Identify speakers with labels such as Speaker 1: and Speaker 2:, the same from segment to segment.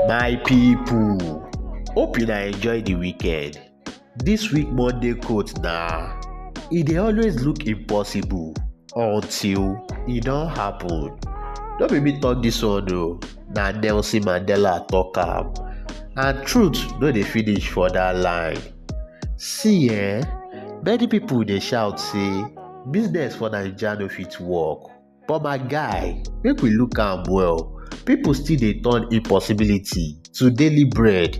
Speaker 1: My people, hope una enjoy the weekend. This week Monday coat na e dey always look impossible until e don happen. No be me talk this one o, na Nelson Mandela talk am. And truth no dey finish for that line. See eh, many people dey shout say business for Naija no fit work. But my guy, make we look am well, people still dey turn impossibility to daily bread.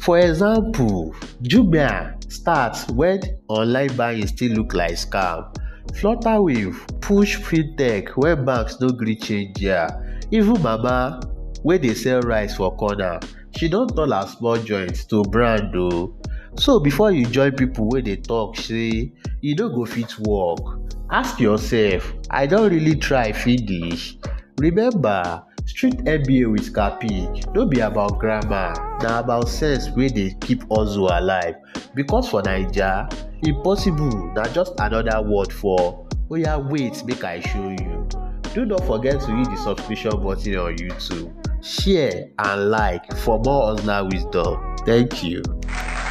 Speaker 1: For example, Jumia start when online buying still look like scam. Flutterwave push fintech when banks no gree change their. Even Mama wey dey sell rice for corner she don turn her small joint to brand o. So before you join people wey dey talk say e no go fit work, ask yourself, I don really try finish? Remember, street MBA with Kapi no be about grammar, na about sense wey dey keep hustle alive. because for naija impossible na just another word for oya wait make i show you do not forget to hit the subscription button on youtube share and like for more hustler wisdom thank you. Thank you.